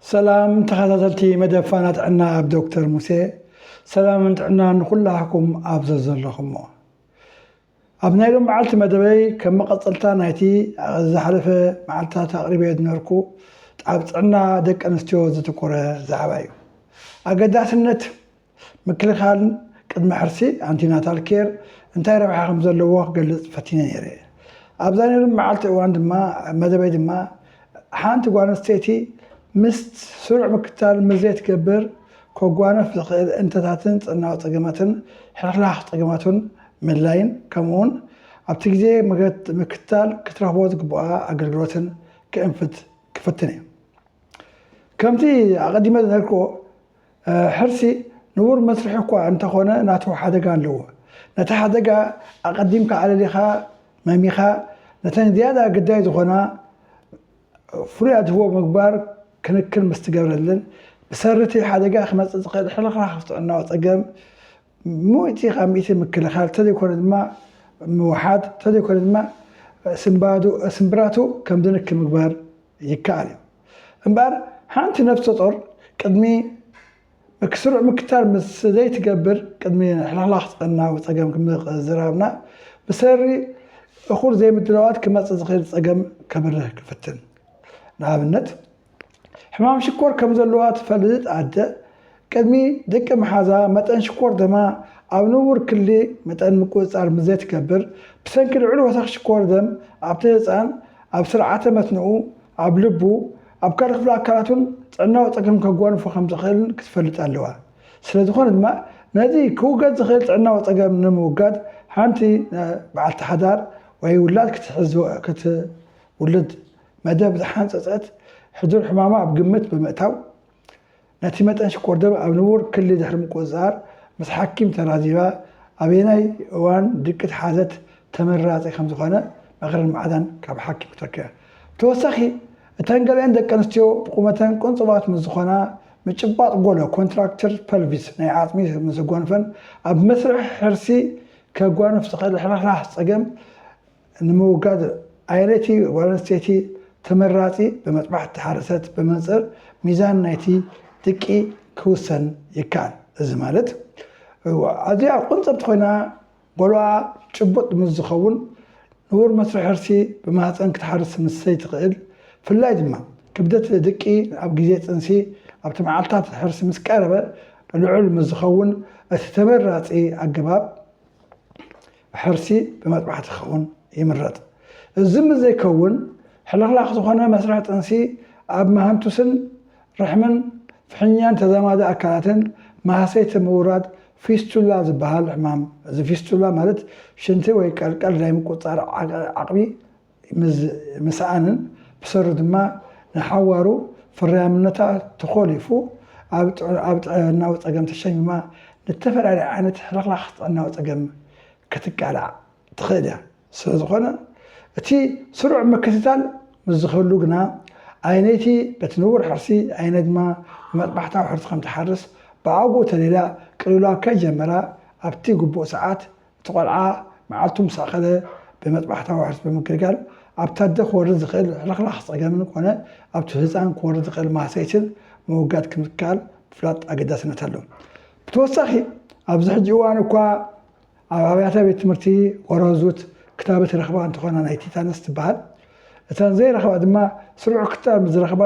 ሰላም ተኸታተልቲ መደብ ፋና ጥዕና ኣብ ዶክተር ሙሴ ሰላምን ጥዕና ንኹላህኩም ኣብ ዘዘለኹሞ ኣብ ናይ ሎም መዓልቲ መደበይ ከም መቐፀልታ ናይቲ ዝሓለፈ መዓልትታት ኣቕሪበ ዝነበርኩ ኣብ ጥዕና ደቂ ኣንስትዮ ዘተኮረ ዛዕባ እዩ ኣገዳስነት ምክልኻል ቅድመ ሕርሲ፣ ኣንቲናታል ኬር፣ እንታይ ረብሓ ከም ዘለዎ ክገልጽ ፈቲነ ነይረ። ኣብዛ ናይ ሎሚ መዓልቲ እዋን ድማ መደበይ ድማ ሓንቲ ጓል ኣንስተይቲ ምስ ስሩዕ ምክትታል ምስ ዘይትገብር ከጓንፍ ዝኽእል እንተታትን ጽዕናዊ ጸገማትን ሕልኽላኽ ጸገማቱን ምድላይን ከምኡውን ኣብቲ ግዜ ምክትታል ክትረኽቦ ዝግብኣ ኣገልግሎትን ክእንፍት ክፍትን እየ። ከምቲ ኣቐዲመ ዝነገርክዎ ሕርሲ ንቡር መስርሕ እኳ እንተኾነ ናቱ ሓደጋ ኣለዎ። ነቲ ሓደጋ ኣቐዲምካ ኣለሊኻ መሚኻ ነተን ዝያዳ ግዳይ ዝኾና ፍሉይ ኣድህቦ ምግባር ክንክን ምስትገብረለን ብሰሪ'ቲ ሓደጋ ክመጽእ ዝኽእል ሕልኽላኽ ጥዕናዊ ጸገም ምእቲ ካብ ምእቲ ምክልኻል ተዘይኮነ ድማ ምውሓድ ተዘይኮነ ድማ ስምብራቱ ከም ዝንኪ ምግባር ይከኣል እዩ። እምበኣር ሓንቲ ነፍሰ ጾር ቅድሚ ስሩዕ ምክትታል ምስ ዘይትገብር ቅድሚ ሕልኽላኽ ጥዕናዊ ጸገም ምዝራብና ብሰሪ እኹል ዘይምድላዋት ክመጽእ ዝኽእል ጸገም ከብርህ ክፍትን። ንኣብነት፣ ሕማም ሽኮር ከም ዘለዋ እትፈልጥ ኣደ፣ ቅድሚ ድቂ ምሓዛ መጠን ሽኮር ደማ ኣብ ንቡር ክሊ መጠን ምቁጽጻር ምስ ዘይትገብር፣ ብሰንኪ ልዑል ወሰኽ ሽኮር ደም ኣብቲ ህጻን፣ ኣብ ስርዓተ መትንኡ፣ ኣብ ልቡ፣ ኣብ ካልእ ክፍሊ ኣካላቱን ጥዕናዊ ጸገም ከጓንፎ ከም ዝኽእልን ክትፈልጥ ኣለዋ። ስለ ዝኾነ ድማ ነዚ ክውገድ ዝኽእል ጥዕናዊ ጸገም ንምውጋድ ሓንቲ በዓልቲ ሓዳር ወይ ውላድ ክትሕዝ ክትውልድ መደብ ዝሓንጸጸት ሕዱር ሕማማ ኣብ ግምት ብምእታው፣ ነቲ መጠን ሽኮር ደም ኣብ ንቡር ክሊ ድሕሪ ምቁጽጻር ምስ ሓኪም ተራዚባ ኣበየናይ እዋን ድቂ ተሓዘት ተመራጺ ከም ዝኾነ ምኽርን ማዕዳን ካብ ሓኪም ክትረክበ። ብተወሳኺ፣ እተን ገሊኤን ደቂ ኣንስትዮ ብቑመተን ቁንጹባት ምስ ዝኾና፣ ምጭባጥ ጎሎ፣ ኮንትራክቸር ፐልቪስ፣ ናይ ዓጽሚ ምስ ጎንፈን ኣብ መስርሕ ሕርሲ ከጓንፍ ዝኽእል ሕርሕራህ ጸገም ንምውጋድ ኣይነቲ ጓለንስተይቲ ተመራጺ ብመጥባሕቲ ሓረሰት ብመንጽር ሚዛን ናይቲ ድቂ ክውሰን ይከኣል። እዚ ማለት ኣዚያ ቁንጽርቲ ኮይና ጎልኣ ጭቡጥ ምስ ዝኸውን ንቡር መስርሕ ሕርሲ ብማህጸን ክትሓርስ ምስ ዘይትኽእል ፍላይ ድማ ክብደት ድቂ ኣብ ግዜ ጥንሲ ኣብቲ መዓልታት ሕርሲ ምስ ቀረበ ልዑል ምስ ዝኸውን እቲ ተመራጺ ኣገባብ ሕርሲ ብመጥባሕቲ ክኸውን ይምረጽ። እዚ ምስ ዘይከውን ሕልኽላኽ ዝኾነ መስርሕ ጥንሲ ኣብ መሃንቱስን ርሕምን ፍሕኛን ተዛማዲ ኣካላትን ማህሰይቲ ምውራድ ፊስቱላ ዝበሃል ሕማም እዚ ፊስቱላ ማለት ሽንቲ ወይ ቀልቀል ናይ ምቁጽጻር ዓቕሚ ምስኣንን ብሰሩ ድማ ንሓዋሩ ፍርያምነታ ተኾሊፉ ኣብ ጥዕናዊ ጸገም ተሸሚማ ንተፈላለየ ዓይነት ሕልኽላኽ ጥዕናዊ ጸገም ክትቃላዕ ትኽእል እያ። ስለዝኾነ እቲ ስሩዕ ምክትታል ምስ ዝህሉ ግና ኣየነይቲ በቲ ንቡር ሕርሲ ኣየነ ድማ ብመጥባሕታዊ ሕርሲ ከምትሓርስ ብኣግኡ ተሊላ ቅልውላው ከይጀመራ ኣብቲ ግቡእ ሰዓት እቲ ቆልዓ መዓልቱ ምስ ኣኸለ ብመጥባሕታዊ ሕርሲ ብምግልጋል ኣብቲ ኣደ ክወርድ ዝኽእል ሕልኽላኽ ጸገምን ኮነ ኣብቲ ህጻን ክወርድ ዝኽእል ማህሰይትን ምውጋድ ከም ዝከኣል ምፍላጥ ኣገዳስነት ኣለዎ። ብተወሳኺ ኣብዚ ሕጂ እዋን እኳ ኣብ ኣብያተ ቤት ትምህርቲ ወራዙት ክታበት ይረኽባ እንተኾና ናይ ቲታነስ ትበሃል እተን ዘይረኽባ ድማ ስሩዕ ክትጣር ምስ ዝረኽባ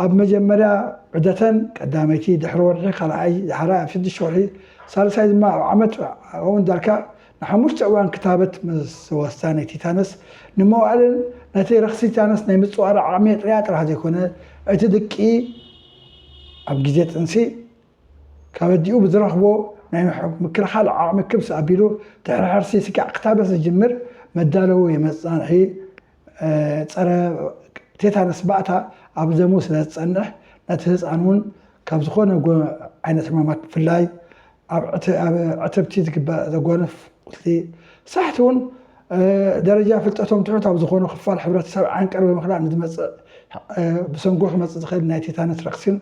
ኣብ መጀመርያ ዑደተን ቀዳመይቲ ድሕሪ ወርሒ ካልኣይ ዳሕራይ ኣብ ሽዱሽተ ወርሒ ሳልሳይ ድማ ኣብ ዓመት ኣውን ዳርካ ንሓሙሽተ እዋን ክታበት ምስ ዝወስዳ ናይ ቲታነስ ንመዋእለን ነቲ ረኽሲ ቲታነስ ናይ ምጽዋር ዓቕሚ የጥርያ ጥራሕ ዘይኮነ እቲ ድቂ ኣብ ግዜ ጥንሲ ካበዲኡ ብዝረኽቦ ናይ ምክልኻል ዓቕሚ ክብስ ኣቢሉ ድሕሪ ሕርሲ ስጋዕ ክታበት ዝጅምር መዳለዊ መጽናንሒ ፀረ ቴታነስ ባእታ ኣብ ደሙ ስለዝፀንሕ ነቲ ህፃን እውን ካብ ዝኾነ ዓይነት ሕማማት ብፍላይ ኣብ ዕትብቲ ዝግበር ዘጓንፍ ቁስሊ ሳሕቲ እውን ደረጃ ፍልጠቶም ትሑት ኣብ ዝኾኑ ክፋል ሕብረተሰብ ዓንቀር ብምኽላእ ንዝመፅእ ብሰንጎ ክመፅእ ዝኽእል ናይ ቴታነስ ረኽሲን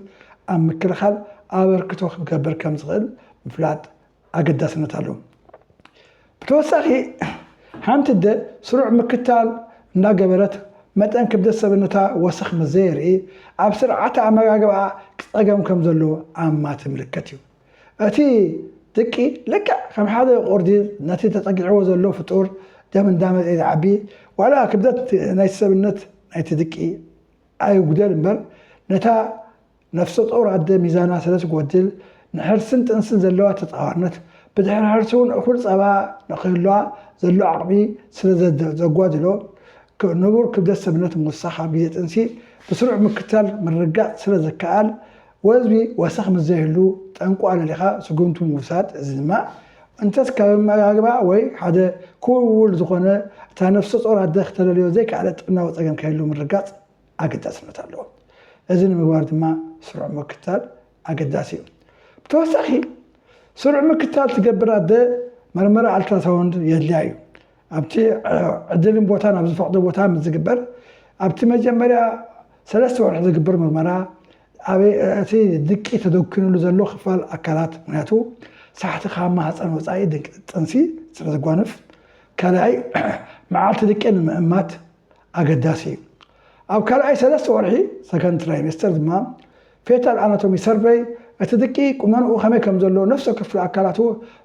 ኣብ ምክልኻል ኣበርክቶ ክገብር ከምዝኽእል ምፍላጥ ኣገዳስነት ኣለዎ። ብተወሳኺ ሓንቲ ኣደ ስሩዕ ምክትታል እንዳገበረት መጠን ክብደት ሰብነታ ወሰኽ ምስ ዘየርኢ ኣብ ስርዓተ ኣመጋግባኣ ጸገም ከም ዘሎ ኣማቲ ምልክት እዩ። እቲ ድቂ ልክዕ ከም ሓደ ቁርዲድ ነቲ ተጸጊዕዎ ዘሎ ፍጡር ደም እንዳመልኤ ዝዓቢ ዋላ ክብደት ናይቲ ሰብነት ናይቲ ድቂ ኣይጉደል እምበር ነታ ነፍሰጾር ኣደ ሚዛና ስለ ዝጎድል፣ ንሕርስን ጥንስን ዘለዋ ተጻዋርነት፣ ብድሕሪ ሕርሲ እውን እኹል ጸባ ንክህልዋ ዘሎ ዓቕሚ ስለ ዘጓድሎ፣ ንቡር ክብደት ሰብነት ምውሳኽ ኣብ ግዜ ጥንሲ ብስሩዕ ምክትታል ምርጋጽ ስለ ዝከኣል፣ ወዝቢ ወሰኽ ምስ ዘይህሉ ጠንቁ ኣለሊኻ ስጉምቲ ምውሳድ፣ እዚ ድማ እንተስ ካብ ኣመጋግባ ወይ ሓደ ክውልውል ዝኾነ እታ ነፍሰጾር ኣደ ክተለልዮ ዘይከኣለት ጥዕናዊ ጸገም ከይህሉ ምርጋጽ፣ ኣገዳስነት ኣለዎ። እዚ ንምግባር ድማ ስሩዕ ምክትታል ኣገዳሲ እዩ። ብተወሳኺ ስሩዕ ምክትታል ትገብር ኣደ መርመራ ኣልትራሳውንድ የድልያ እዩ። ኣብቲ ዕድልን ቦታን ኣብ ዝፈቕዶ ቦታ ምስ ዝግበር ኣብቲ መጀመርያ ሰለስተ ወርሒ ዝግበር ምርመራ ኣብ እቲ ድቂ ተደኪኑሉ ዘሎ ክፋል ኣካላት ምክንያቱ ሳሕቲ ካብ ማህፀን ወፃኢ ጥንሲ ስለዘጓንፍ ካልኣይ መዓልቲ ድቂ ንምእማት ኣገዳሲ እዩ። ኣብ ካልኣይ ሰለስተ ወርሒ፣ Second Trimester፣ ድማ ፌታል ኣናቶሚ ሰርቨይ፣ እቲ ድቂ ቁመንኡ ከመይ ከም ዘሎ ነፍሰ ክፍሊ ኣካላቱ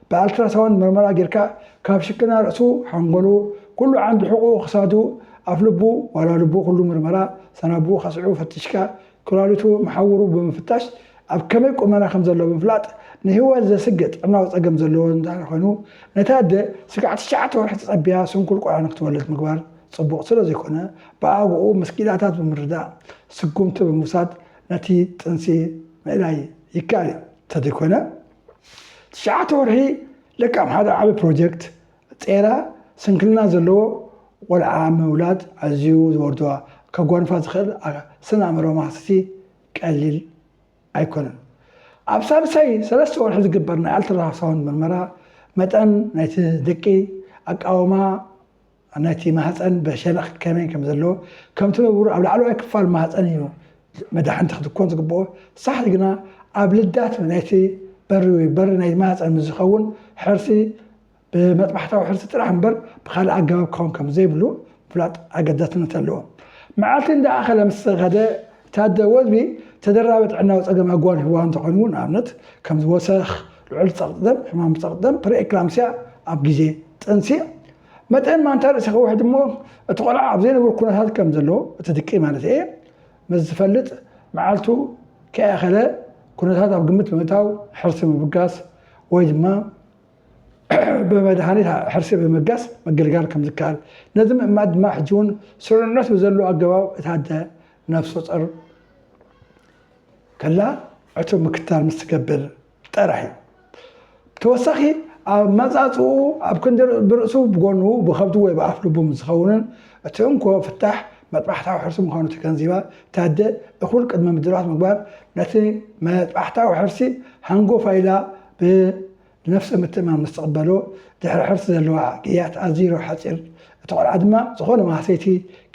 ብኣልትራሳውንድ ምርመራ ጌርካ ካብ ሽክና ርእሱ፣ ሓንጎሉ፣ ኩሉ ዓንዲ ሕቁኡ ክሳዱ፣ ኣፍ ልቡ ዋላ ልቡ ኩሉ ምርመራ ሰናቡኡ ከስዕቡ ፈቲሽካ ኩላሊቱ መሓውሩ ብምፍታሽ ኣብ ከመይ ቁመና ከም ዘሎ ብምፍላጥ ንህይወት ዘስግእ ጥዕናዊ ጸገም ዘለዎ እንተኾይኑ ነታ ኣደ ስጋዕ ትሽዓተ ወርሒ ተጸቢያ ስንኩል ቆልዓ ንክትወልድ ምግባር ጽቡቕ ስለዘይኮነ ብኣግኡ ምስ ኪኢላታት ብምርዳእ ስጉምቲ ብምውሳድ ነቲ ጥንሲ ምእላይ ይከኣል እዩ። እንተዘይኮነ ትሽዓተ ወርሒ ለካም ሓደ ዓቢ ፕሮጀክት ጼራ ስንክልና ዘለዎ ቆልዓ ምውላድ ኣዝዩ ዝወርዶ ከጓንፋ ዝኽእል ስነ ኣእምሮዊ ማህሰይቲ ቀሊል ኣይኮነን። ኣብ ሳልሳይ ሰለስተ ወርሒ ዝግበር ናይ ኣልትራሳውንድ ምርመራ መጠን ናይቲ ድቂ ኣቃውማ ናይቲ ማህጸን ብሸነኽ ከመይ ከም ዘለዎ ከምቲ ንቡር ኣብ ላዕለዋይ ክፋል ማህጸን እዩ መዳሕንቲ ክትኮን ዝግብኦ ሳሕቲ ግና ኣብ ልዳት ናይቲ በሪ ወይ በሪ ናይ ማህጸን ምስ ዝኸውን ሕርሲ ብመጥባሕታዊ ሕርሲ ጥራሕ እምበር ብኻልእ ኣገባብ ክኸውን ከም ዘይብሉ ምፍላጥ ኣገዳስነት ኣለዎ። መዓልቲ እንዳኣኸለ ምስ ኸደ እቲ ኣደ ወዝቢ ተደራቢ ጥዕናዊ ጸገም ኣጓኒፍዋ እንተኾይኑ ውን ንኣብነት ከምዚ ወሰኽ፣ ልዑል ጸቕጢ ደም፣ ሕማም ጸቕጢ ደም፣ ፕሪኤክላምሲያ፣ ኣብ ግዜ ጥንሲ መጠን ማንታ ርእሲ ክውሕድ እሞ እቲ ቆልዓ ኣብ ዘይንቡር ኩነታት ከም ዘሎ እቲ ድቂ ማለተይ እየ ምስ ዝፈልጥ መዓልቱ ከይኣኸለ ኩነታት ኣብ ግምት ብምእታው ሕርሲ ምብጋስ ወይ ድማ ብመድሃኒት ሕርሲ ብምብጋስ ምግልጋል ከም ዝከኣል፣ ነዚ ምእማን ድማ ሕጂ እውን ስሩዕነት ብዘለዎ ኣገባብ እታ ኣደ ነፍሰጾር ከላ ዕቱብ ምክትታል ምስ ትገብር ጥራሕ እዩ። ብተወሳኺ ኣብ ኣመጻጽኡ ኣብ ክንዲ ብርእሱ ብጎኑ ብኸብዱ ወይ ብኣፍ ልቡ ምስ ዝኸውንን እቲ እንኮ ፍታሕ መጥባሕታዊ ሕርሲ ምዃኑ ተገንዚባ እታ ኣደ እኹል ቅድመ ምድባት ምግባር ነቲ መጥባሕታዊ ሕርሲ ሃንጎፋይ ኢላ ብነፍሰ ምትእምማን ምስ ትቕበሎ ድሕሪ ሕርሲ ዘለዋ ግያት ኣዚሮ ሓጺር፣ እቲ ቆልዓ ድማ ዝኾነ ማህሰይቲ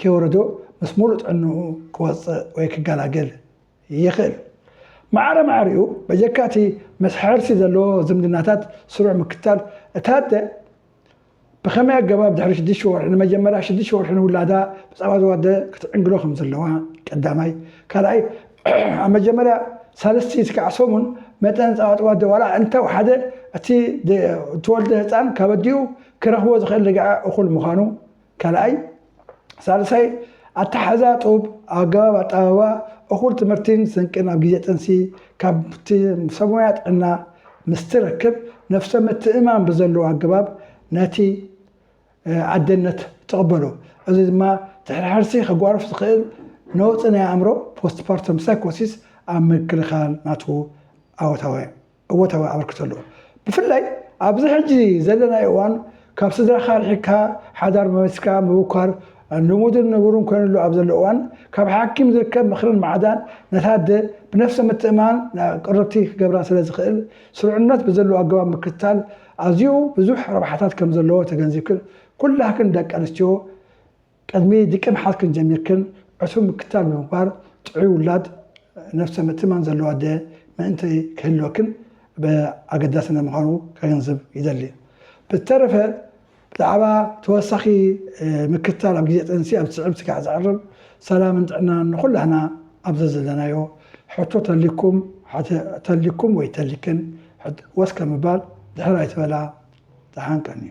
ከይወረዶ ምስ ሙሉእ ጥዕንኡ ክወጽእ ወይ ክገላገል ይኽእል። ማዕረ ማዕሪኡ በጀካ እቲ ምስ ሕርሲ ዘለዎ ዝምድናታት ስሩዕ ምክትታል እታ ኣደ፣ ብኸመይ ኣገባብ ድሕሪ ሽዱሽተ ወርሒ ንመጀመርያ ሽዱሽተ ወርሒ ንውላዳ ብጻባ ዝዋደ ክትዕንግሎ ከም ዘለዋ ቀዳማይ ካልኣይ ኣብ መጀመርያ ሳልስቲ እስካዕ ሰሙን መጠን ጻባ ትዋደ ዋላ እንተ ወሓደ እቲ ትወልደ ህጻን ካብ ኣዲኡ ክረኽቦ ዝኽእል ርግዐ እኹል ምዃኑ ካልኣይ፣ ሳልሳይ፣ ኣተሓሕዛ ጡብ፣ ኣገባብ ኣጠባብባ፣ እኹል ትምህርቲን ስንቅን ኣብ ግዜ ጥንሲ ካብቲ ሰብሞያ ጥዕና ምስ ትረክብ ነብሰ ምትእምማን ብዘለዎ ኣገባብ ነቲ ኣደነት ትቕበሎ። እዚ ድማ ድሕሪ ሕርሲ ከጓርፍ ዝኽእል ነውጺ ናይ ኣእምሮ፣ ፖስትፓርተም ሳይኮሲስ፣ ኣብ ምክልኻል ናቱ ኣወታዊ እወታዊ ኣበርክቶ ኣለዎ። ብፍላይ ኣብዚ ሕጂ ዘለናዮ እዋን ካብ ስድራኻ ርሒቅካ ሓዳር መስሪትካ ምብኳር ልሙድን ንቡርን ኮይንሉ ኣብ ዘሎ እዋን ካብ ሓኪም ዝርከብ ምኽርን ማዕዳን ነታ ኣደ ብነፍሰ ምትእምማን ናብ ቅርብቲ ክገብራ ስለ ዝኽእል ስሩዕነት ብዘለዎ ኣገባብ ምክትታል ኣዝዩ ብዙሕ ረብሓታት ከም ዘለዎ ተገንዚብክን ኩላክን ደቂ ኣንስትዮ ቅድሚ ድቂ ምሓዝክን ጀሚርክን ዕሱብ ምክትታል ብምግባር ጥዑይ ውላድ ነብሰ ምእትማን ዘለዎ ኣደ ምእንቲ ክህልወክን ኣገዳሲ ምዃኑ ከገንዝብ ይደሊ። ብዝተረፈ ብዛዕባ ተወሳኺ ምክትታል ኣብ ግዜ ጥንሲ ኣብ ዝስዕብ ስጋዕ ዘዕርብ ሰላምን ጥዕናን ንኹላህና ኣብ ዘዘለናዮ ሕቶ ተልይኩም ተልይኩም ወይ ተልይክን ወስ ከም ምባል ድሕር ኣይትበላ ደሓን ቀንዩ።